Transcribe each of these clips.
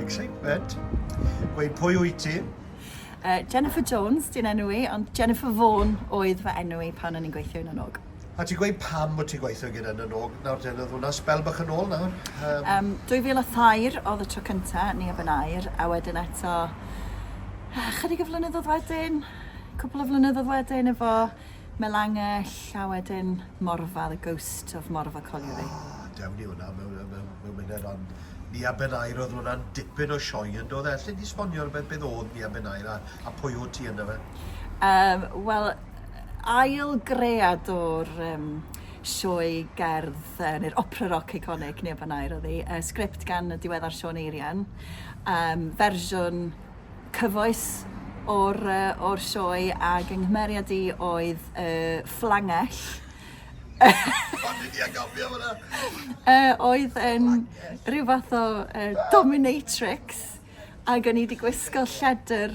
Excitement. Gweud pwy wyt ti? Uh, Jennifer Jones, di'n enw i, ond Jennifer Vaughan oedd fy enw i pan o'n i'n gweithio yn y nog. A ti'n gweud pam bod ti'n gweithio gyda nhw nawr nawr ten oedd hwnna sbel bach yn ôl nawr? Um... Um, 2003 oedd y tro cynta ni a Benair a wedyn eto ah, chydig o flynyddoedd wedyn, cwpl o flynyddoedd wedyn efo Melangell a wedyn Morfa, the ghost of Morfa Colliery. Oh, dewn ni hwnna mewn, mewn, mewn munud ond ni a Benair oedd hwnna'n dipyn o sioe yn dod e? Lle di sbonio'r beth beth oedd ni a Benair a, a pwy o ti yna fe? Um, Wel, ail gread o'r um, sioe gerdd, uh, neu'r opera rock iconic, neu fan air oedd hi, uh, sgript gan y diweddar Sean Eirian, um, fersiwn cyfoes o'r, uh, or sioe ac yng nghymeriad i oedd uh, fflangell. uh, oedd yn rhyw fath o uh, dominatrix ac o'n i wedi gwisgo lledr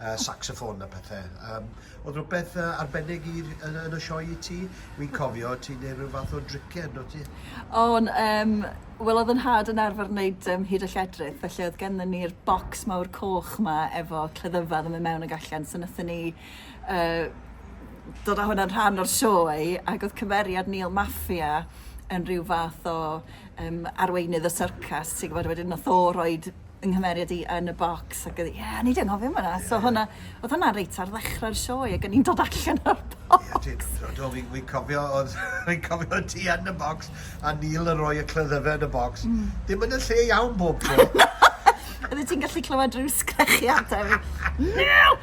yy sacsaffon a pethe. Yym o'dd rwbeth yy arbennig i r- yn y yn y sioe i ti? Wi'n cofio ti'n neud ryw fath o dricie yndwt ti? O'n yym wel o'dd 'yn nhad yn arfer neud yym hud a lledrith felly o'dd gennon ni'r bocs mawr coch 'ma efo cleddyfa o'dd yn myn' mewn ag allan so nathon ni yy dod â hwnna'n rhan o'r sioe ag o'dd cymeriad Neil Maffia yn ryw fath o yym arweinydd y syrcas ti'n gwbod wedyn nath o roid yng nghymeriad i yn y bocs ac oedd, ie, o'n i 'di anghofio am hwnna. So hwnna, oedd hwnna reit ar ddechrau'r sioe ac o'n i'n dod allan o'r bocs. Ie, ti, do, fi'n fi cofio, oedd, fi'n cofio ti yn y bocs a Neil yn rhoi y clyddyfe yn y bocs. Mm. Dim yn y lle iawn bob tro. Oeddet ti'n gallu clywed rhyw sgrechiadau. Neil!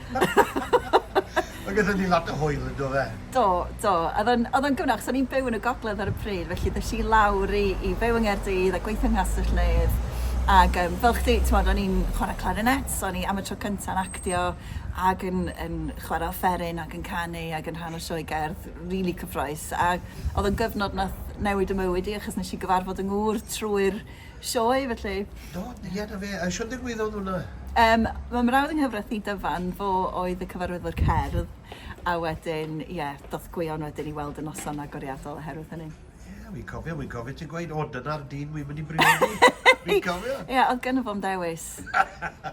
Mae gyda ni lot o hwyl yn do fe? Do, do. Oedd o'n, oedd o'n gyfnod, achos o'n i'n byw yn y gogledd ar y pryd, felly ddes i lawr i, i byw yng Nghaerdydd a gweithio yng Nghastell Nedd. Ac um, fel chdi, ti'n modd, o'n i'n chwarae clarinet, so o'n i am y tro cyntaf yn actio ac yn, yn chwarae offeryn ac yn canu ac yn rhan o sioe gerdd, rili really cyffroes. A oedd o'n gyfnod nath newid y mywyd i, achos nes i gyfarfod yng ngŵr trwy'r Sioe, felly. Do, ie, na fe. A siwr ddigwyddodd hwnna? Um, mae mrawd yng nghyfraith i dyfan, fo oedd y cyfarwyddwr cerdd, a wedyn, ie, yeah, doth gwion wedyn i weld y noson agoriadol oherwydd hynny. Ie, yeah, fi'n cofio, fi'n cofio ti'n gweud, o, dyna'r dyn wi'n mynd i briodi. Fi'n cofio. Ie, yeah, oedd gynnu fo'n dewis.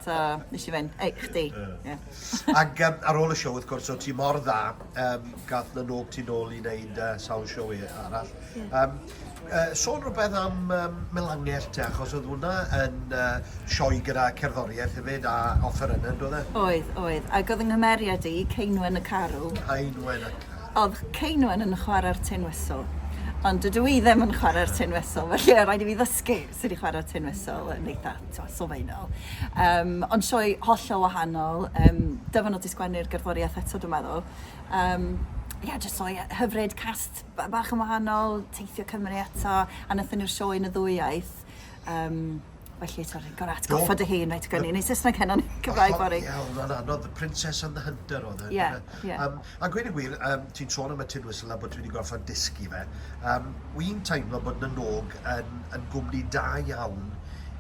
so, nes i fynd, ei, chdi. Yeah. Ac um, ar ôl y siow, wrth gwrs, o ti mor dda, um, gath na nôg ti'n ôl i wneud uh, sawl siow e- arall. Yym yy sôn rwbeth am yym Melangell te achos o'dd hwnna yn yy sioe gyda cerddorieth hefyd a offerynne on'd o'dd e? Oedd oedd ag o'dd 'y nghymeriad i Ceinwen y Carw. Ceinwen y Carw. O'dd Ceinwen yn chwara'r Tin Whistle ond dydw i ddim yn chwara'r Tin Whistle felly o' raid i fi ddysgu sud i chwara'r Tin Whistle yn eitha t'mo' sylfaenol yym ond sioe hollol wahanol yym dyfynod i sgwennu'r gerddoriaeth eto dwi meddwl yym ie jyst sioe yy hyfryd cast Ba- bach yn wahanol, teithio Cymru eto, a nathon ni'r sioe yn y ddwy iaith. Um, felly, ti'n rhaid gorau atgoffa dy hun, rhaid gynnu. Neu Saesneg heno, neu Cymraeg fory. Ie, oedd hwnna'n anodd, The Princess and the Hunter oedd e. Ie, ie. Um, a gweud y gwir, um, ti'n sôn am y tin whistle a bod ti wedi gorfod dysgu fe. Um, Wy'n teimlo bod na nog yn, yn gwmni da iawn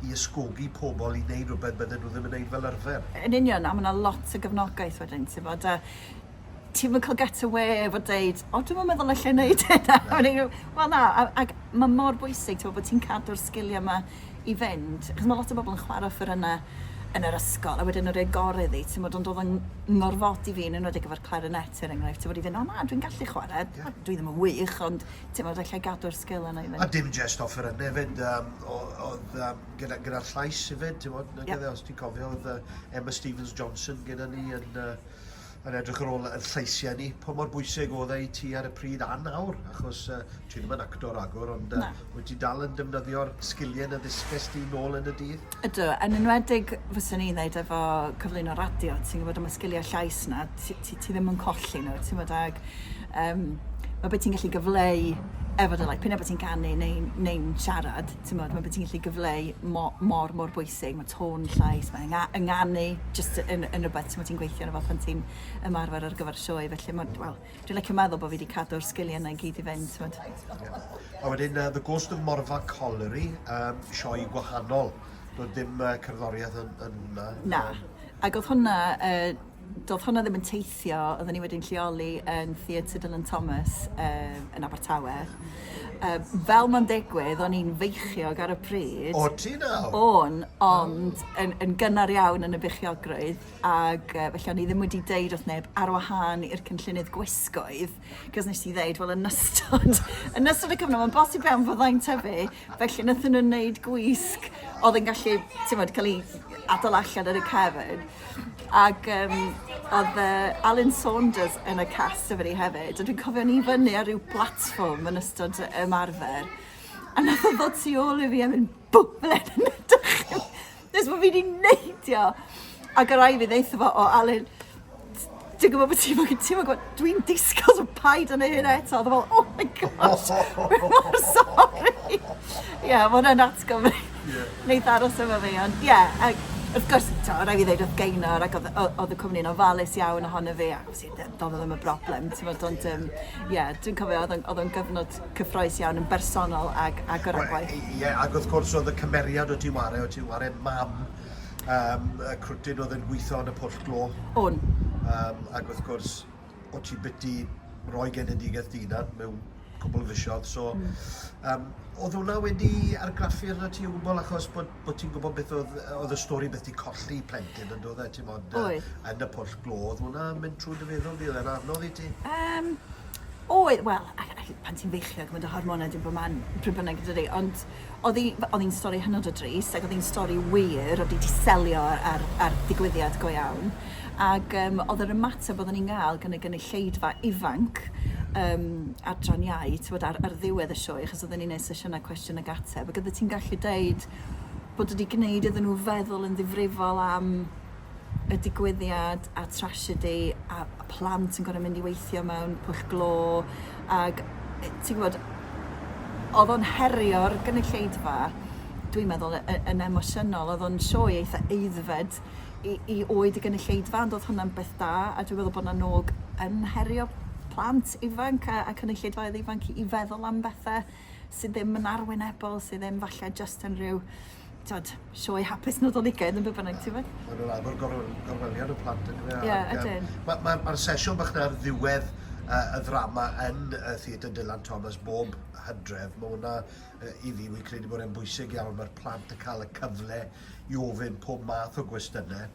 i ysgogi pobl i wneud rhywbeth bydden nhw ddim yn wneud fel arfer. Yn union, a mae yna lot o gefnogaeth wedyn, ti'n bod, a ti'm yn cael get away efo deud, o dwi'm yn meddwl allai wneud hynna. Wel na, ac mae mor bwysig ti'n bod ti'n cadw'r sgiliau yma i fynd, achos mae lot o bobl yn chwarae ffyr yna yn yr ysgol, a wedyn yr ei gorau iddi, ti'n bod, ond oedd yn ngorfod i fi, yn enwedig efo'r clarinet er enghraifft, ti'n bod i fynd, o na, dwi'n gallu chwarae, yeah. dwi ddim yn wych, ond ti'n bod, allai gadw'r sgil yna i fynd. A dim jest offer yna hefyd, um, oedd um, gyda, gyda'r llais hefyd, ti'n bod, yeah. os ti'n cofio, oedd uh, Emma Stevens-Johnson gyda ni yn... Uh, yn edrych ar ôl yn llaesiau ni, pa mor bwysig oedd e i ti ar y pryd a nawr? Achos uh, ti ddim yn actor ragor, ond uh, wyt ti dal yn defnyddio'r sgiliau na ddysges ti nôl yn y dydd? Ydw, yn enwedig fyswn i'n dweud efo cyflwyno radio, ti'n gwybod am y sgiliau llais na, ti, ti, ti ddim yn colli nhw, ti'n gwybod ag... Um, mae beth ti'n gallu gyfleu efo dy laeth, pyn bod ti'n canu neu'n neu siarad, t'mod ma' be' ti'n gallu gyfleu mo- mor mor bwysig ma' tôn llais ma' ynga- ynganu jyst yn yn rwbeth t'mod ti'n gweithio arno fo pan ti'n ymarfer ar gyfer y sioe felly ma' wel dwi licio meddwl bo' fi 'di cadw'r sgilie 'na i gyd i fynd t'mod. Ie. A wedyn yy The Ghost of Morfa Colliery yym sioe gwahanol do'dd dim yy cerddorieth yn yn hwnna. Na. Ag odd hwnna yy Doedd hwnna ddim yn teithio, oedden ni wedi'n lleoli yn Theatr Dylan Thomas um, yn Abertawe. Um, fel mae'n digwydd, o'n i'n feichiog ar y pryd. O ti nawr? O'n, ond oh. yn, yn gynnar iawn yn y beichiogrwydd, ac uh, felly o'n i ddim wedi deud wrth neb ar wahân i'r cynllunydd gwisgoedd, cos nes i ddeud, wel, yn ystod, yn ystod y cyfnod, mae'n bosib iawn fyddai'n tyfu, Felly wnaethon nhw wneud gwisg oedd yn gallu, timod, cael ei adael allan yn y cefn. Ac um, oedd uh, Alan Saunders yn y cast efo ni hefyd. A dwi'n cofio ni fyny ar ryw platform yn ystod ymarfer. A nath o ddod tu ôl i fi a mynd, bw, ble yn ydych chi? Nes bod fi wedi neidio. A gyda i fi ddeitha fo o Alun, ti'n gwybod bod ti'n mynd, ti'n gwybod, dwi'n disgos o paid yn ei hyn eto. Dwi'n fel, oh my gosh, dwi'n mor sorry. Ie, yeah, mae'n yn atgo fi. Yeah. Neith aros efo fi, ond ie. Yeah, ac wrth gwrs, ti'n rhaid fi ddeud, oedd gainor ac oedd y cwmni'n ofalus iawn ohono fi. do'dd o ddim yn broblem t'mod ond yym ie dwi'n cofio odd o'n odd o'n gyfnod cyffrous iawn yn bersonol ag ag o ran gwaith. Wel ie ag wrth gwrs odd y cymeriad o' ti'n ware o' ti'n ware mam yym y crwtyn odd yn gwitho yn y pwll glo. O'n. Yym ag wrth gwrs o' ti biti roi genedigaeth dy unan mewn cwpwl o fisodd so... Hmm. ...yym odd wnna wedi argraffu arnot ti o gwbwl achos bod bo' ti'n gwbod beth o'dd yy o'dd y stori beth 'di colli plentyn on'd o'dd e t'mod yy... Oedd. ...yn y pwll glo o'dd wnna yn mynd trw dy feddwl di o'dd e'n anodd i ti? Yym oedd wel a- a- pan ti'n feichiog ma' dy hormone di'n bo' man pryd bynnag yndydi ond o'dd 'i f- o'dd 'i'n stori hynod o drist ag o'dd 'i'n stori wir o'dd 'i 'di selio ar ar ddigwyddiad go iawn ag yym o'dd yr ymateb odden ni'n ga'l gyn y gynulleidfa ifanc yym adran iau t'mod ar ar ddiwedd y sioe achos odden ni'n neud sesiyne cwestiwn ag ateb, ac oeddet ti'n gallu deud bod wedi gwneud iddyn nhw feddwl yn ddifrifol am y digwyddiad a trasiedi a plant yn gorau mynd i weithio mewn pwll glo ac ti'n gwybod oedd o'n herio'r gynulleidfa dwi'n meddwl y- y- yn emosiynol oedd o'n sioe eitha eiddfed i, i oed y gynulleidfa ond oedd hwnna'n beth da a dwi'n meddwl bod yna nog yn herio plant ifanc a, a cynulleidfaoedd ifanc i, i feddwl am bethau sydd ddim yn arwynebol, sydd ddim falle just yn rhyw tod, sioe hapus Nadoligaidd yn be bynnag, ti'n fawr? Mae'n rhaid bod gorweliad y plant yn dweud. Ie, ydyn. Mae'r ma, ma sesiwn bach na ar ddiwedd uh, y ddrama yn uh, Theatr Dylan Thomas bob hydref. Mae hwnna uh, i fi, wy'n credu bod e'n bwysig iawn. Mae'r plant yn cael y cyfle i ofyn pob math o gwestiynau.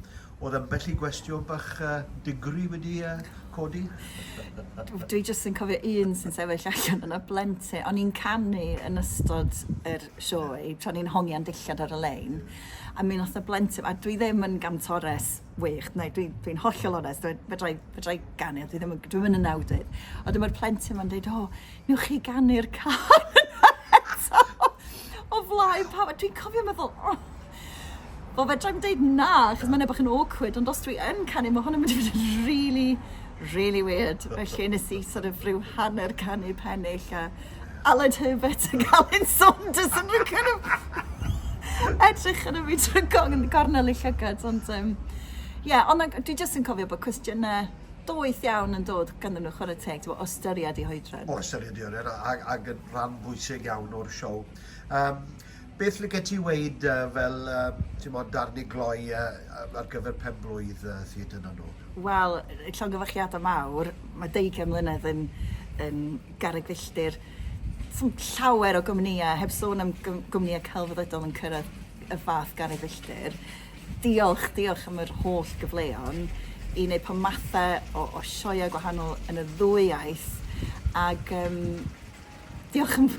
Oedd ambell i gwestiwn bach uh, digri wedi uh, codi? Dwi jyst yn cofio un sy'n sefyll allan yn y blentyn. O'n i'n canu yn ystod yr sioe, tra o'n i'n hongian dillad ar y lein. A mi nath y blentyn, a dwi ddim yn gantores wych, neu dwi'n dwi hollol onest, fedra i, fedra i ganu, ond dwi ddim yn, dwi ddim yn nawdydd. A dyma'r plentyn ma'n dweud, o, newch chi ganu'r can eto o flaen pawb. A dwi'n cofio meddwl, oh, Wel, fedra i'n dweud na, achos mae'n ebach yn awkward, ond os dwi yn canu, mae hwn yn mynd i fod yn really, really weird. Felly nes i sort of rhyw hanner canu pennill a Aled Herbert ac Alun Saunders yn rhoi kind of edrych yn y fi trwy gornel y llygad, ond um, yeah, ond dwi jyst yn cofio bod cwestiynau doeth iawn yn dod ganddyn nhw chwarae teg, ti'n o ystyried i hoedran. O ystyried i hoedran, ac, ac yn rhan bwysig iawn o'r siow. Um, Beth licet ti weud fel timod darn i gloi ar gyfer pen-blwydd Theatr na Nod? Wel, llongyfarchiadau mawr, mae deugain mlynedd yn yn garreg filltir. Does dim llawer o gwmnïau, heb sôn am gwmnïau celfyddydol yn cyrraedd y fath garreg filltir. Diolch, diolch am yr holl gyfleon i wneud pob mathau o o sioeau gwahanol yn y ddwy iaith ac yym Diolch am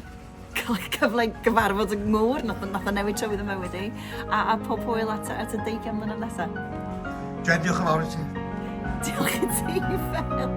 cael y cyfle i gyfarfod y ngŵr, nath o, nath o newid tywydd y mywyd i, a, a pob hwyl at, at y deigion mlynedd nesa. Jen, diolch yn fawr i ti. Diolch i ti, Fel.